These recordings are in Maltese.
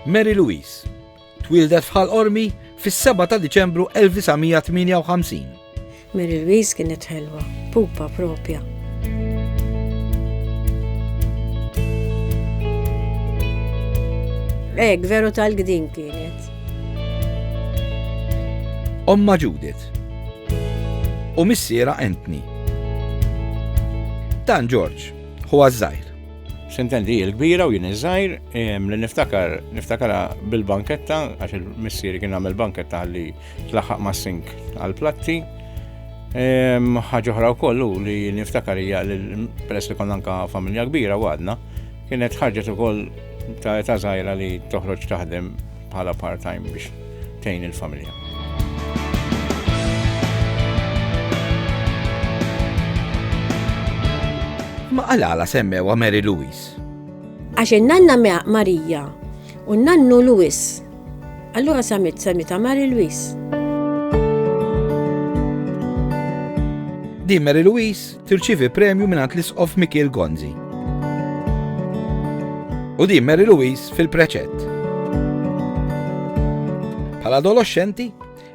Mary Louise twieldet f'Ħal Qormi fis-7 ta' Diċembru 1958. Mary Louise kienet ħelwa, pupa propja. Ek, veru tal-gdin kienet. Omma Judith. U missiera Anthony. Dan George, hu għazzajr. Sintendi hi l-kbira u jien iż-żgħir li niftakar niftakarha bil-banketta għax il-missieri kien għamel banketta li tlaħħaq mas-sink għall-platti. Ħaġa oħra wkoll li niftakar hija li peress li konna anka familja kbira u għadna, kienet ħarġet ukoll ta' ta' żgħira li toħroġ taħdem bħala part-time biex tgħin il-familja. Ma għalala semmewa Mary Louise. Għax nanna mea Marija u nannu Louis. Allura samit samita Mary Louise. Di Mary Louise Tirċievi premju mingħand l-Isqof Mikiel Gonzi. U din Mary Louise fil-preċett. Bħala adolescenti,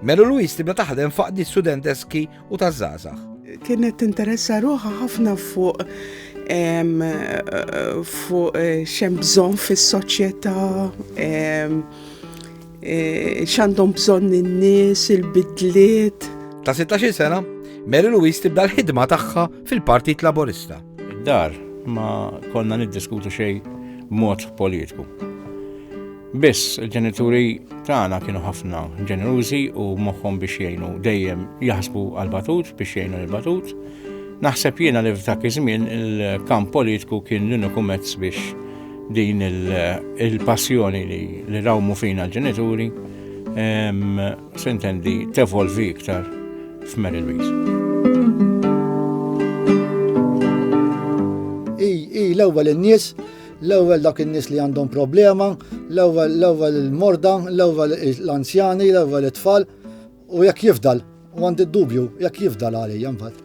Mary Louise tibda taħdem faqdi studenteski u taż-żgħażagħ. Kienet tinteressa ruħa ħafna fuq fuq eh, xem bżon fis-soċjetà Eh, x'għandhom bżonn in-nies, il-bidliet. Ta' 16 sena, Mary Louise tibda l-ħidma tagħha fil-Partit Laburista. Dar ma konna niddiskutu xejn mod politiku. Biss il-ġenituri tagħna kienu ħafna ġenerużi u moħħhom biex jgħinu dejjem jaħsbu għal-batut biex jgħinu l-batut. Naħseb jiena li f'dak iż-żmien il-kamp politiku kien l-uniku mezz biex Din il-passjoni li rawmu fina l-ġenituri sintendi tevolvi iktar f'Mary Louise. I l-ewwel in-nies l-ewwel dak in-nies li għandhom problema, l-ewwel l-ewwel il-morda, l-ewwel l-anzjani, l-ewwel it-tfal, U jekk jifdal, u għandi d-dubju, jekk jifdal għalija mbagħad.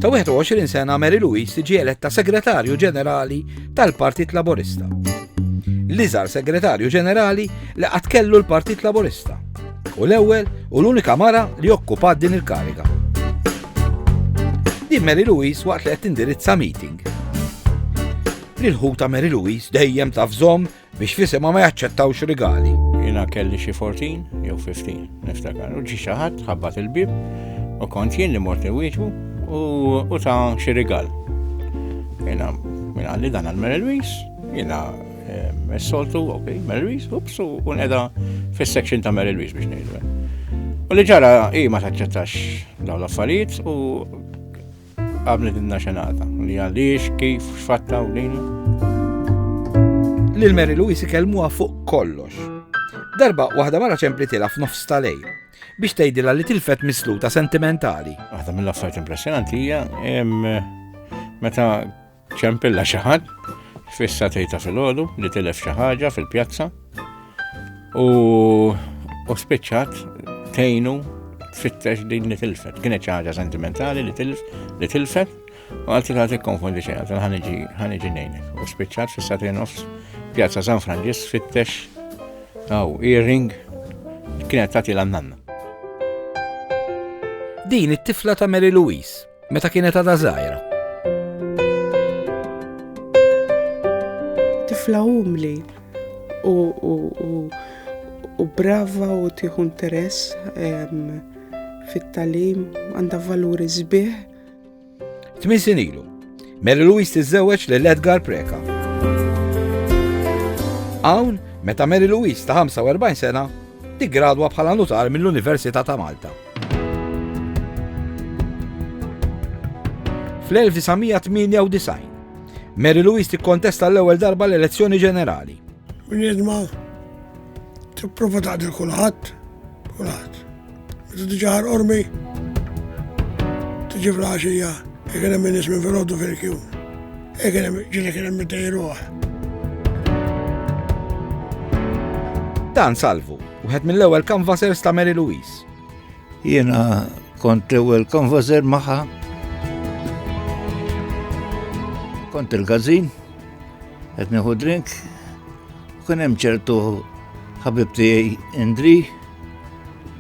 Ta' 21 sena Mary Louise tiġi eletta segretarju ġenerali tal-Partit Laburista. L-iżar segretarju ġenerali li qatt kellu l-Partit Laburista. U l-ewwel u l-unika mara li okkupat din il-kariga. Din Mary Louise waqt li qed tindirizza meeting. L-ħuta Mary Louise dejjem taf żomm Biex fl-isema ma jaċċettawx rigali. Jina kelli xi 14 jew 15, niftakar. U ġi xi ħadd ħabbat il-bib u kont jien li mort iwieġbu u ta' xi rigal. Jina minn għalli dan għal Mary Louise, jina s-soltu, ok, Mary Louise, ups, u neda fil-section ta' Mary Louise biex nejdu. U li ġara, i ma taċċettax daw l-affarijiet u Qablet il-naxenata, li għaliex, kif, xfatta u lina. Lil Mary Louise ikellmuha fuq kollox. Darba waħda mara ċemplitila f'nofs ta' lej biex tgħidilha li tilfet misluta sentimentali. Waħda mill-affarijiet impressjonanti hija meta Ċempilla xi ħadd fissa tejta filgħodu li tilef xi ħaġa fil-pjazza u u spiċċat tejnu tfittex din li tilfet. Kienet xi ħaġa sentimentali li tilf li tilfet u għalti ta' tikkonfondi xejn għalti ħaniġi ħaniġi nejnek. U spiċċat fissa tejn nofs pjazza San Franġis fittex għaw earring kienet tagħti l-nanna. Din it-tifla ta' Mary Louise Meta kienet għadha żgħira. Tifla umli u, u, u, u brava u tieħu interess fit-talim għandha valuri sbieħ. Tmin sinilu, Mary Louise tiżżewweġ lil Edgar Preka. Hawn, meta Mary Louise ta' 45 sena, tiggradwa bħala nutar mill-Università ta' Malta. Fl-1998, Mary Louise tikkontesta l-ewwel darba l-elezzjoni ġenerali. Bniedma tipprova taqdil kulħadd, kulħadd. Meta tiġi ħar ormi, tiġi fl-għaxija, jekk hemm min ismi fil-ħoddu fil-kjun. Jekk hemm ġieli kien hemm iddejruh. Dan salvu, wieħed mill-ewwel kanvasers ta' Mary Louise. Jiena kont l-ewwel konvożer magħha. Kont il-gazin, qed nieħu drink, kien hemm ċertu ħabib tiegħi Indri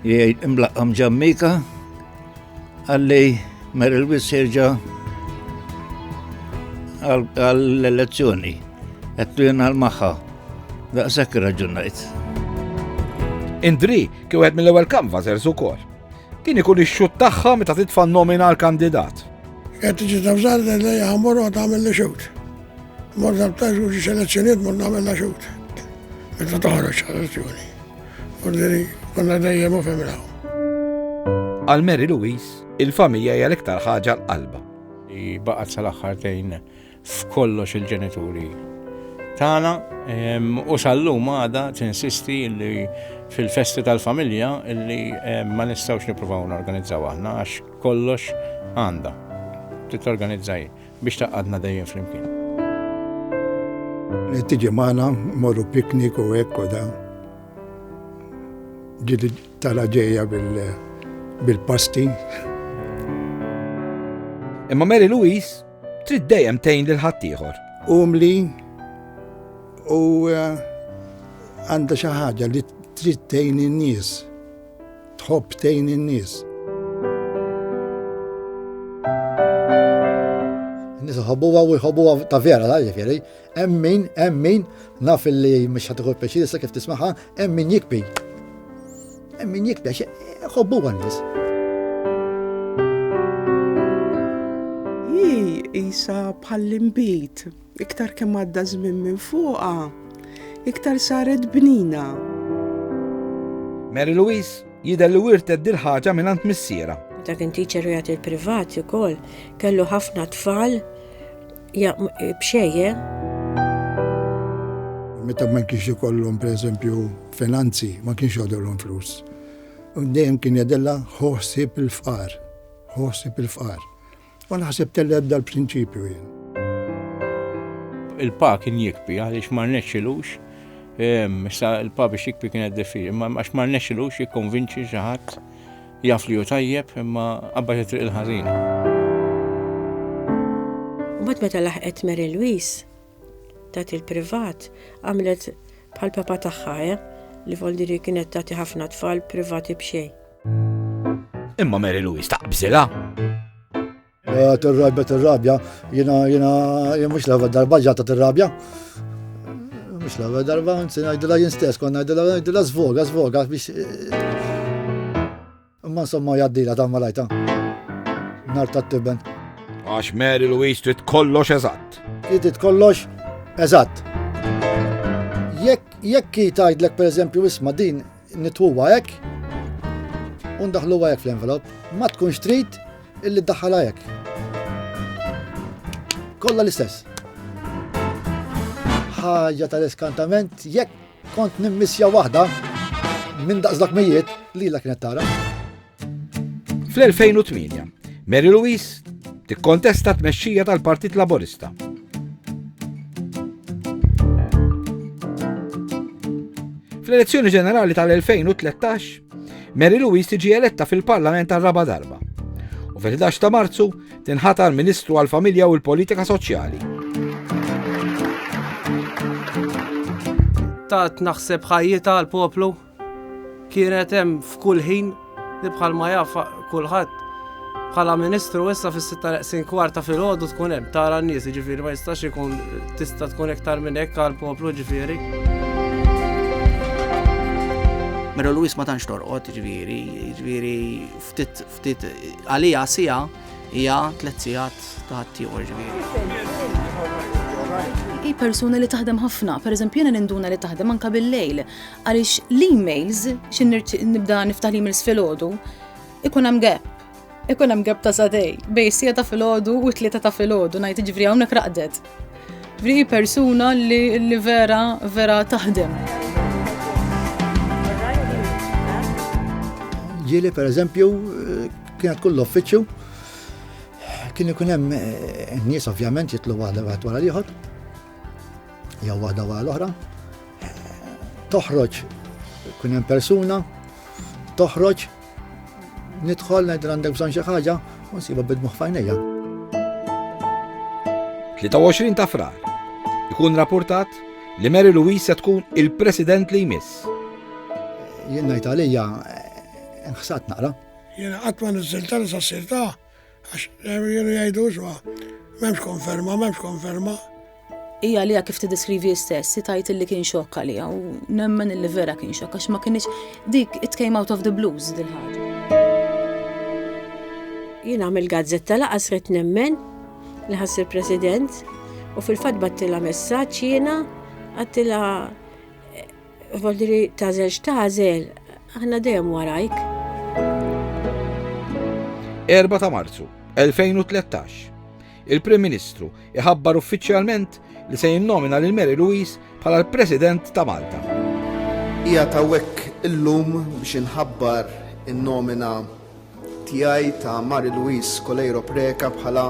li imlaqqam ġammika għalli mer il-wis jerġa' għall-elezzjoni. Għettu jena l-maħħa. Daqsak raġunajt. Indri, Kien wieħed mill-ewwel canvassers ukoll. Kien ikun ix-xut tagħha meta titfa' nomina għal kandidat. Qed tiġi tafżar li ħammor u tagħmel li xut. Mor dabtax u ġi selezzjoniet mor nagħmel la xut. Meta toħroġ selezzjoni. Mor li konna dejjem u femraw. Għal Mary Louise, il-familja hija l-iktar ħaġa l-qalba. Baqgħet sal-aħħar tejn f'kollox il-ġenituri tagħna u sal-lum għada tinsisti li fil-festi tal-familja li ma nistgħux nippruvaw norganizzaw aħna għax kollox għandha titorganizzaj biex taqadna dejjem flimkien. Tiġi magħna morru piknik u hekk u dan. Ġieli tara ġejja bil-pasti. Imma Mary Louise Trid dejjem tgħin lil ħaddieħor. Umli u eh, għandha xi ħaġa li trid tgħin in-nies. Tħobb tgħin in-nies. Nis ħobbuwa u jħobbuwa ta' vera, ta' ġifiri, Hemm min, hemm min, naf li mhux ħadd iħobb pjaċir issa kif tismaha, hemm min jikbi. Hemm min jikbi għax eh, ħobbu għan-nies. Isa bħall-imbit, iktar kemm għadda żmien minn fuqha, iktar saret bnina. Mary Louise jidher li wirtet dil-ħaġa minn għand missiera. Ta' kien tiċer jagħti l-privat ukoll kellu ħafna tfal Ja, bxejje. Meta ma kienx ikollhom pereżempju finanzi, ma kienx jgħodilhom flus. Dejjem kien jadella ħossib il-fqar, ħossib il-fqar. U naħseb telled dal-prinċipju jien. Il-pa kien jikbi għaliex ma rnexxilux Issa il-pa biex jikbi kienet diffiċli, ma għax ma rnexxilux jikkonvinċi xi ħadd Jaf li hu tajjeb imma qabbad it-triq il-ħażina. Mbagħad meta laħqet Mary Louise tat il-privat għamlet bħal papa tagħha eh, li voldiri kienet tagħti ħafna tfal privati b'xejn. Imma Mary Louise taqbżilha. Eh, tirrabja, tirrabja, jina, jina, jina, mux laħva darba ġata tirrabja. Mux laħva darba, nsi najdila jien stess, kon najdila, najdila zvoga, zvoga, biex. Eh, imma insomma jaddila ta' malajta. Nar ta' tibben. Għax Mary Louise trid kollox eżatt. Trid kollox eżatt. Jekk jekk jtajdlek per eżempju isma din Nitwuha hekk u ndaħħluha hekk fl-envelop. Ma tkunx trid illi ddaħħalha hekk. Kollha l-istess. Ħaġa tal-iskantament jekk kont nimmissja waħda minn daqs dak mijiet li la kienet tara. Fl-2008, Mary Louise tikkontesta tmexxija tal-Partit Laburista. Fl-elezzjoni ġenerali tal-2013, Mary Louise tiġi eletta fil-Parlament għal raba darba. U fil-11 ta' Marzu tinħatar Ministru għal-Familja u l-Politika Soċjali. Tat naħseb ħajjita għal-poplu Kienet hemm f'kull ħin li bħalma jaf kulħadd bħala Ministru issa fis-sitta neqsin kwart ta' filgħodu tkun hemm tara n-nies, jiġifieri ma jistax ikun tista' tkun iktar minn hekk għall-poplu ġifieri. Mera Luis ma tantx torqod, ġifieri, ġifieri ftit ftit għalija sija hija tliet sigħat ta' ħaddieħor ġifieri hi persuna li taħdem ħafna, pereżempju jiena ninduna li taħdem anke bil-lejl. Għaliex l-emails, xin nibda niftaħ l-emails fil-ħodu, ikun hemm gap. Ikun hemm gap ta' sadej, bej sija ta' fil-ħodu u tlieta ta' fil-ħodu, ngħid ġifri hawnhekk raqdet. Ġifri persuna li vera vera taħdem. ġili per eżempju kienet kull uffiċċju kien ikun hemm eh, nies ovvjament jitlu għal wara l-ieħor Jew waħda wara l-oħra. Toħroġ kun hemm persuna, toħroġ nidħol ngħid għandek bżonn xi ħaġa u nsiba bidmuħ fajnejja. 23 ta' frar ikun rapportat li Mary Louise se tkun il-president li jmiss. Jien ngħid għalija eh, nħsat naqra. Jiena qatt ma niżilta li sa' sirta' Għax jenu jgħidu isma, memx konferma, memx konferma. Ija li kif t-deskrivi istess, si tajt li kien xokk għalija u nemmen li vera kien xokk għax ma kienx dik it came out of the blues dil ħad Jien għamil gazzetta laqas rit nemmen li ħass il-President u fil-fat battila messaċ jiena għattila Voldiri tażel x'tażel, aħna dejjem warajk. 4 ta' Marzu 2013. Il-Prim Ministru iħabbar uffiċjalment li se jinnomina lil Mary Louise bħala l-President ta' Malta. Hija tawek illum biex inħabbar in-nomina tiegħi ta' Marie Louise Coleiro Preca bħala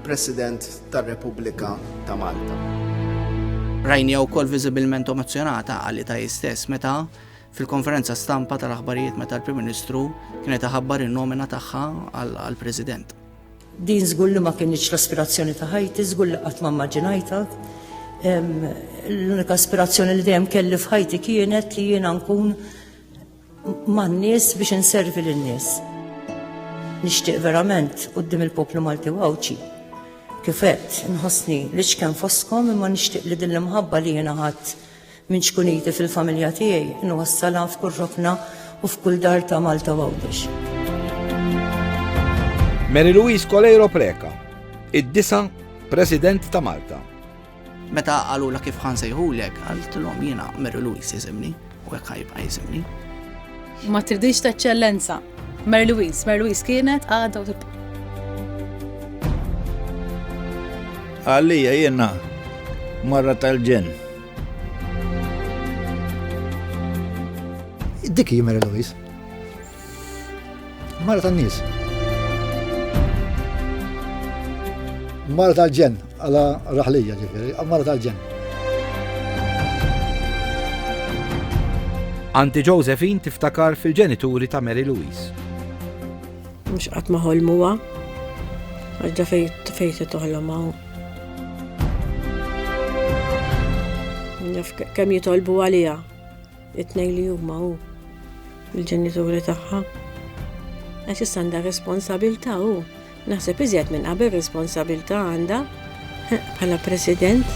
President tar-Repubblika ta' Malta. Rajnija wkoll viżibilment emozzjonata għalita hi stess meta fil-konferenza stampa tal-aħbarijiet meta l-Prim Ministru kienet iħabbar in-nomina tagħha għall-President. Din żgur li ma kienx l-aspirazzjoni ta' ħajti, żgur li qatt ma mmaġinajta. L-unika aspirazzjoni li dejjem kelli f'ħajti kienet li jiena nkun man-nies biex inservi lin-nies. Nixtieq verament quddiem il-poplu Malti u Għawdxi. Kif għedt, inħossni l-iċken fostkom imma nixtieq li din l-imħabba li jiena ħadd minn ċkuniti fil-familja tiegħi nwassalha f'kull rokna u f'kull dar ta' Malta u Għawdex. Mary Louise Coleiro Preca, id-disa' President ta' Malta. Meta qalulha kif ħa nsejħulek, qaltilhom jiena Mary Louise jisimni u hekk ħajbqa' jisimni. Ma tridix ta' ċellenza. Mary Louise, Mary Louise kienet għadha u tibqa'. Għalija jiena marra tal-ġen. Dik hi Mary Louise. Mara tan-nies. Mara tal-ġen, għala raħlija ġifiri, mara tal-ġen. Anti Josephine tiftakar fil-ġenituri ta' Mary Louise. Mux qatt ma ħolmuha, għadda fej se toħlom hawn. Kemm jitolbu għalija. It-tnejn li huma hu l-ġenituri tagħha. Għax issa għandha responsabilità hu. Naħseb iżjed minn qabel responsabilità għandha bħala president.